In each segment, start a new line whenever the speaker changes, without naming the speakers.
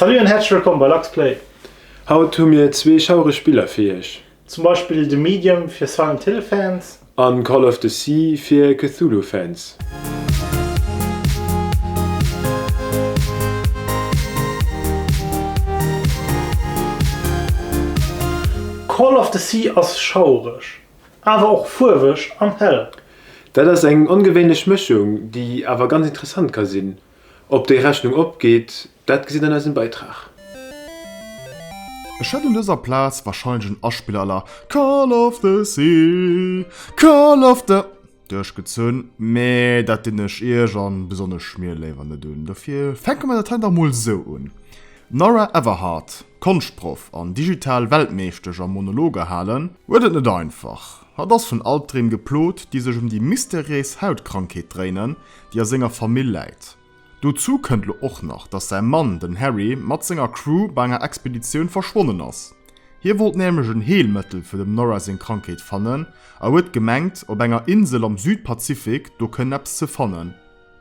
Salut an häerzlech wëllkomm bei LuxPlay! Haut hu mir zwee schaureg Spiller fir iech. Zum Beispill The Medium fir Silent Hill Fans. An Call of the Sea fir Cthulhu Fans. Call of the Sea ass schaureg, awer och fuerweg an hell. Dat ass eng ongewéinlech Mëschung, déi awer ganz interessant ka sinn. Ob déi Rechnung opgeet, dat gesitt an eisem Beitrag. Ech hätt un dëser Plaz wahrscheinlech en Aspiller à la Call of the Sea, Call of the duerchgezunn, mee dat dinn ech iech a besonnesch mir léiwer net un. Dofir fänke mer dat hei dach mol sou un, D'Nora Everhart, Konschtproff an digital Weltmeeschtesch am Monologe halen, huet et net einfach. Hatt ass vun Albdreem geplot, déi sech ëm déi mysteries Hautkrankheet dréinen, déi a senger Famill läit. Dozou kënnt lo och nach, dass säi Mann, den Harry, mat senger Crew bei enger Expeditioun verschwonnen ass. Hie wollt nämlech en Heelmëttel fir dem Nora seng Krankheet fannen a huet gemengt, op enger Insel am Südpazifik do kënnen eppes ze fannen.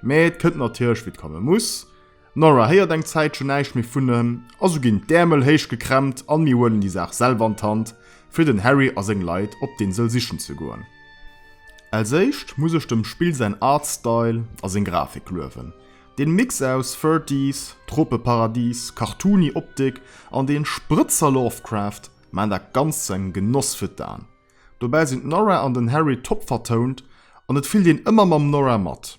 Mee et kënnt natierlech wéi et komme muss. Nora héiert eng Zäitchen näischt méi vun em, also ginn d'Äermel héich gekrempt an mir huelen déi Saach selwer an d'Hand, fir den Harry a seng Leit op d'Insel sichen ze goen. Als éischt muss ech dem Spill säin Artstyle a seng Grafik luewen. Deen Mix aus Thirties, Tropeparadis, cartoony Optik an deen Sprëtzer Lovecraft maachen dat Ganzt zu engem Genoss fir d'Aen. Dobäi sinn d'Nora an den Harry top vertount an et fillt een ëmmer mam Nora mat.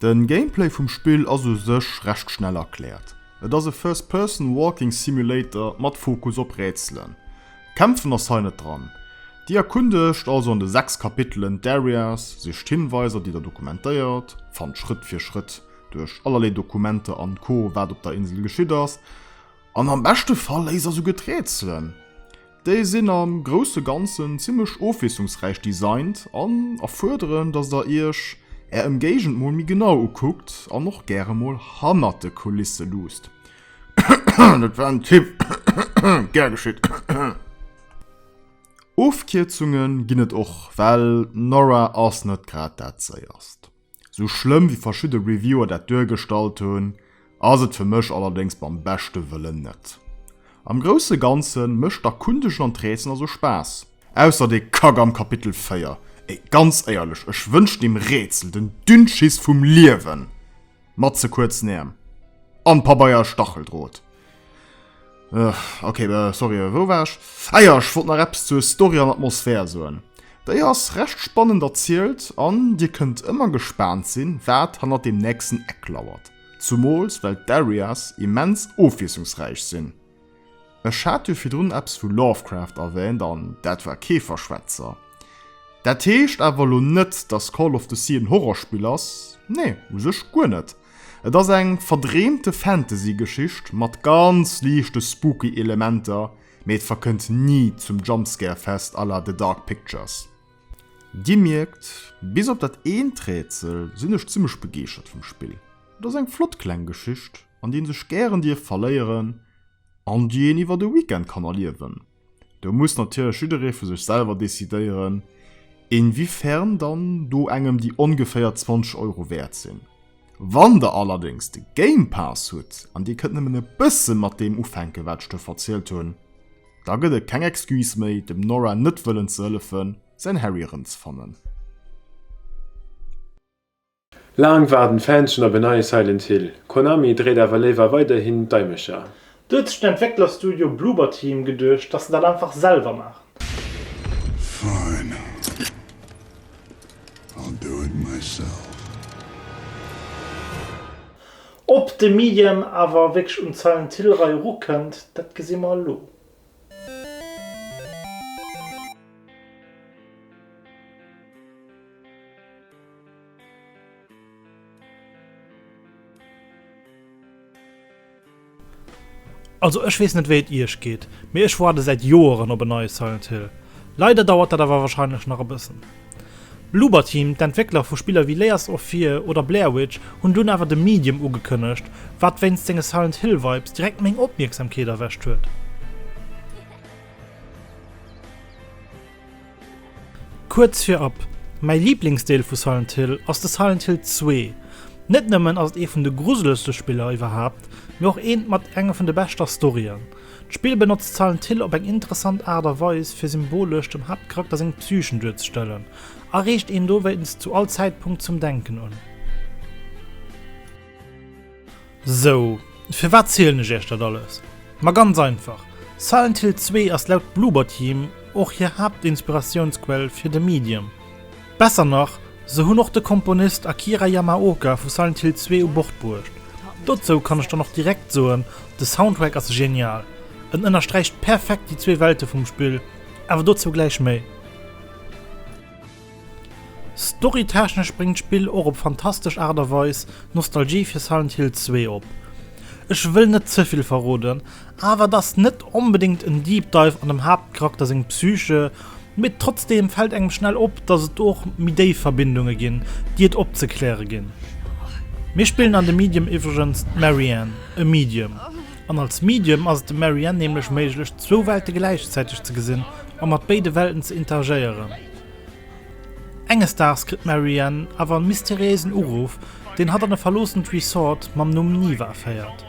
De Gameplay vum Spill ass u sech recht schnell erkläert. Et ass e First Person Walking Simulator mat Fokus op Rätselen. Kämpfen ass hei net dran. Dir erkundegt also an de 6 Kapitelen d'Areas, sicht Hinweiser déi der dokumentéiert, fannt Schrëtt fir Schrëtt duerch allerlee Dokumenter an Co wat op der Insel geschitt ass an am beschte Fall léist der souguer d'Rätselen. Déi sinn am grousse Ganzen zimmlech ofwiesslungsräich designt an erfuerderen, dass der iech är Ëmgéigend mol méi genau ukuckt an och gäre mol hannert de Kulisse luusst. Dat war en Tipp, gär geschitt. Ofkierzunge ginn et och, well d'Nora ass net grad dat Séierst. Sou schlëmm wéi verschidde Reviewer dat duergestallt hunn, ass et fir mech allerdéngs beim beschte Wëllen net. Am grousse Ganze mécht d'Erkundegen an d'Rätsel also Spaass. Ausser dee Kack am Kapitel 4, ey ganz éierlech, ech wënschen deem Rätsel den Dünnschiss vum Liewen! Mat ze kuerzen Äerm an Pabeier a Stacheldrot. Ok äh, sorry äh, wou war ech? Eier ah ech wollt nach Apps zur Story an Atmosphär soen. Déi ass recht spannend erzielt an Dir kënnt ëmmer gespaant sinn, wat hannert dem nächsten Eck lauert. Zumools well d'Areas immens ofwiesslungsräich sinn. Ech hat jo virdrun Apps vu Lovecraft erwäänt an dat war kee Verschwätzer. Dat heescht awer elo net, dass Call of the Sea en Horrorspill ass, nee u sech guer net. Et ass eng verdreemte Fantasy-Geschicht mat ganz liichte spooky Elementer, mee et verkënnt ni zum Jumpscare-Fest à la The Dark Pictures. Dir mierkt, bis op dat eent Rätsel sinn ech zimmlech begeeschert vum Spill. Et ass eng flott kleng Geschicht, an déi ee sech gären dierf verléieren an déi een iwwer e Weekend kann erliewen. Do muss natierlech jidderee vu sech selwer decidéieren, inwiefern dann do engem déi ongeféier 20 Euro wäert sinn. Wann Der allerdéngs de Game Pass hutt an Dir kënnt nëmmen e bësse mat deem ufänken, wat ech do verzielt hunn, da gëtt et keng Excuse méi, dem Nora net wëllen ze hëllefen, säin Harry erëmzefannen. Laang waarden d'Fans schon op en neie Silent Hill. Konami dréit awer léiwer weiderhin d'Daimecher. Do huet sech den Entwécklerstudio Bloober Team geduecht, dass se dat einfach selwer maachen. Fine, I'll do it myself. Ob de Medium awer wierklech un d'Silent Hill Rei erukënnt, dat gesi mer elo. Also ech wees net wéi et iech geet, mee ech woarde säit Joeren op en neie Silent Hill. Leider dauert dat awer wahrscheinlech nach e bëssen. Bloober Team, d'Entwéckler vu Spiller wéi Layers of Fear oder Blair Witch, hunn dunn awer The Medium ugekënnegt, wat wéinst senge Silent Hill Vibes direkt meng Opmierksamkeet erwächt huet. Kuerz virab, mäi Liblingsdeel vu Silent Hill ass de Silent Hill 2. Net nëmmen ass et ee vun de gruselegste Spiller iwwerhaapt, mee och eent mat enge vun de beschter Storyen. D'Spill benotzt Silent Hill op eng interessant Aart a Weis fir symbolesch dem Haaptcharakter seng Psyche duerzestellen a reegt een dowéinst zu all Zäitpunkt zum Denken un. Sou, firwat zielen ech iech dat alles? Ma ganz einfach, Silent Hill 2 ass laut Bloober Team och hir Haaptinspiratiounsquell fir The Medium. Besser nach, se hunn och de Komponist Akira Yamaoka vu Silent Hill 2 u Bord bruecht. Dozou kann ech dann och direkt soen, de Soundtrack ass genial, en ënnersträicht perfekt déi zwee Welte vum Spill, awer dozou gläich méi. Storytechnesch bréngt d'Spill och op fantastesch Aart a Weis Nostalgie fir Silent Hill 2 op. Ech wëll net ze vill verroden, awer et ass net onbedéngt en Deep Dive an dem Haaptcharakter seng Psyche, Mee trotzdeem fält engem schnell op, dass et do och méi déif Verbindunge ginn, déi et opzekläre ginn. Mir spillen an de Medium iwwregens d'Mary Anne, e Medium. An als Medium ass et dem Mary Anne nämlech méiglech, zwou Welte gläichzäiteg ze gesinn a mat béide Welten ze interagéieren. Enges Daags kritt d'Mary Anne awer en mysteriéisen Uruff, deen hatt an e verloossent Resort mam Numm Niwa féiert.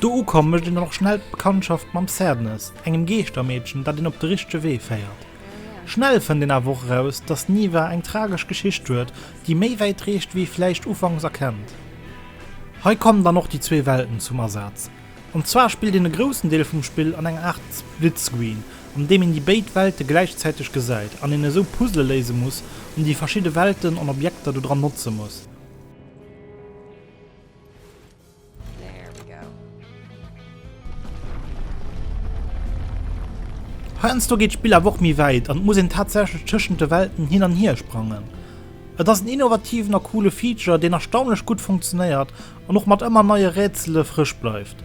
Do ukomm mécht een dann och schnell d'Bekanntschaft mam Cernus, engem Geeschtermeedchen, dat een op de richtege Wee féiert. Schnell fënnt een awer och eraus, dass d'Niwa eng tragesch Geschicht huet, déi méi wäit reecht wéi ee vläicht ufanks erkennt. Hei kommen dann och déi zwee Welten zum Asaz. An zwar spillt een e groussen Deel vum Spill an enger Aart Splitscreen, an deem een déi béid Welte gläichzäiteg gesäit, an een esou Puzzle léise muss, an déi verschidde Welten an Objekter dodran notze muss. Heiansdo geet d'Spill awer och méi wäit an et muss een tatsächlech tëschent de Welten hin an hier sprangen. Et ass en innovativen a coole Feature, deen erstaunlech gutt funktionéiert an och mat ëmmer neie Rätsele frësch bleift.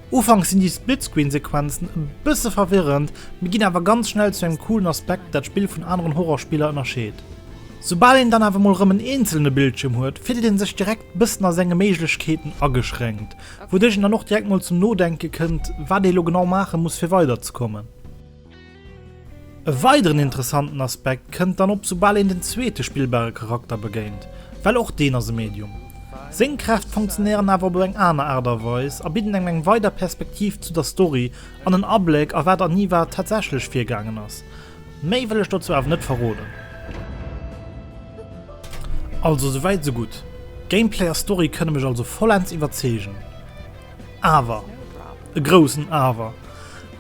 Ufanks sinn déi Splitscreen-Sequenzen e bësse verwirrend, mee ginn awer ganz schnell zu engem coolen Aspekt, dat d'Spill vun aneren Horror-Spiller ënnerscheet. Soubal een dann awer mol rëm en eenzelne Bildschierm huet, fillt ee sech direkt Bëssen a senge Méiglechkeeten ageschränkt. Wouduerch een dann och direkt mol zum Nodenke kënnt, wat ee lo genau maache muss, fir weiderzekommen. E weideren interessanten Aspekt kënnt dann op, soubal een den zweete spillbare Charakter begéint, well och deen ass e Medium. Seng Kräft funktionéieren awer op eng aner Aart a Weis a bidden engem eng weider Perspektiv zu der Story an en Abléck a wat an Niwa tatsächlech virgaangen ass. Méi wëll ech dozou awer net verroden. Also sou wäit sou gutt. Gameplay a Story kënne mech also vollends iwwerzeegen. Awer, e groussen Awer,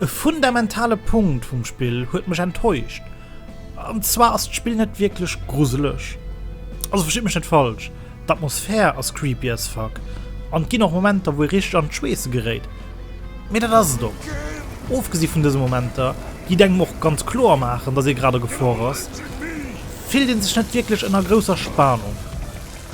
e fundamentale Punkt vum Spill huet mech enttäuscht. An zwar ass d'Spill net wierklech gruseleg. Also verstitt mech net falsch. D'Atmosphär ass creepy as fuck an et ginn och Momenter wou ee richteg an d'Schweesse geréit, mee dat ass et och. Ofgesi vun dëse Momenter, déi et engem och ganz kloer maachen, dass ee grad a Gefor ass, fillt ee sech net wierklech ënner grousser Spanung.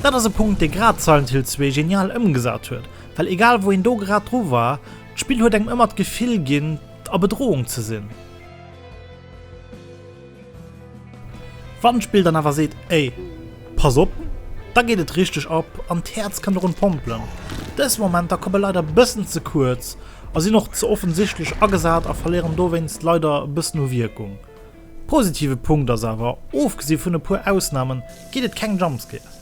Dat ass e Punkt dee grad Silent Hill 2 genial ëmgesat huet, well egal wou een do grad dru war, d'Spill huet engem ëmmer d'Gefill ginn a Bedrohung ze sinn. Wann d'Spill dann awer seet, Ey, pass op! da geet et richteg ab an d'Häerz kënnt erun pompelen. Dës Momenter komme leider bëssen ze kuerz a sinn och ze offensichtlech agesat a verléieren dowéinst leider bëssen u Wierkung. Positive Punkt ass awer, ofgesi vun e puer Ausnamen, geet et keng Jumpscares.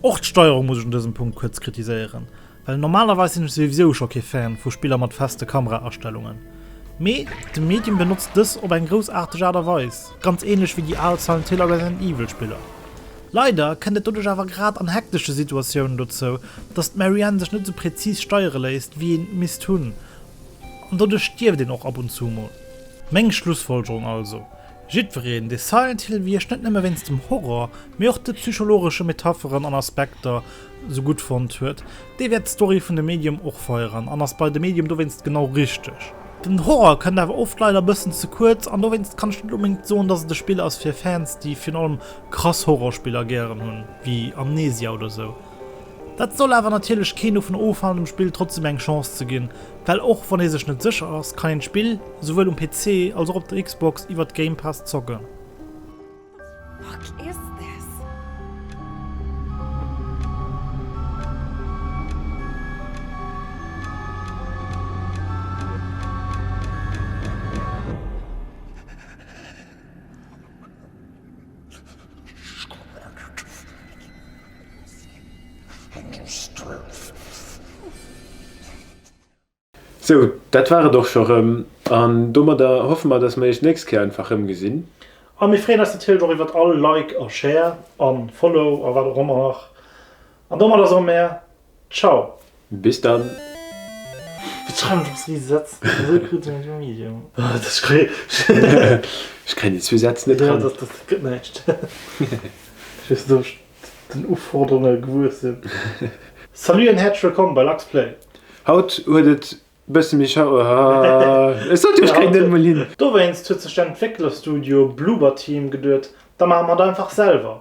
Och d'Steierung muss ech un dësem Punkt kuerz kritiséieren. Well normalerweis sinn ech souwisou scho kee Fan vu Spiller mat feste Kamera-Astellungen, mee de Medium benotzt dës op eng groussaarteg Aart a Weis, ganz ähnlech wéi déi al Silent Hill a Resident Evil Spiller. Leider kënnt et doduerch awer grad an hektesche Situatiounen dozou, dass d'Mary Ann sech net sou präzis steiere léisst wéi een et misst hunn, an doduerch stierft een och ab und zu mol. Meng Schlussfolgerung also, Jiddwereen, dee Silent Hill Wierk net nëmme wéinst dem Horror, mee och de psychologesche Metapheren an Aspekter sou gutt fonnt huet, dee wäert d'Story vun dem Medium och feieren an ass bei dem Medium dowéinst genau richteg. Den Horror kënnt awer oft leider e bëssen ze kuerz an dowéinst kann ech net onbedéngt soen, dass et e Spill ass fir Fans, déi virun allem krass Horrorspiller gären hunn, wéi Amnesia oder sou. Dat soll awer natierlech keen dovun ofhalen dem Spill trotzdeem eng Chance ze ginn, well och wann ee sech net sécher ass, kann een d'Spill souwuel um PC als och op der Xbox iwwert d'Game Pass zocken. Sou, dat war et och scho rëm. An domadder hoffe mer, dass mer iech d'nächst Kéier einfach rëm gesinn. A mir freeën eis natierlech och iwwert all Like a Share a Follow a wat och ëmmer nach. An domadder soe mer Ciao, bis dann! Ech kréien déi zwee Sätz net ran. Salut an häerzlech wëllkomm bei Luxplay! Haut huet et bësse méi schau, hahaha, ech sot jo, ech kréien dat emol hin! Dowéinst huet sech den Entwécklerstudio Bloober Team geduet, da maache mer et einfach selwer.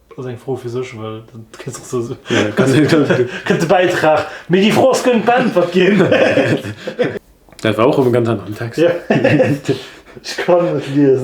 Ass eng Fro fir sech, well dat kënnt sech sou. Kënnt de Bäitrag, mee déi Fro ass gëllen beäntwert ginn. Dat war och op en ganz aneren Text. Ech kann net liesen.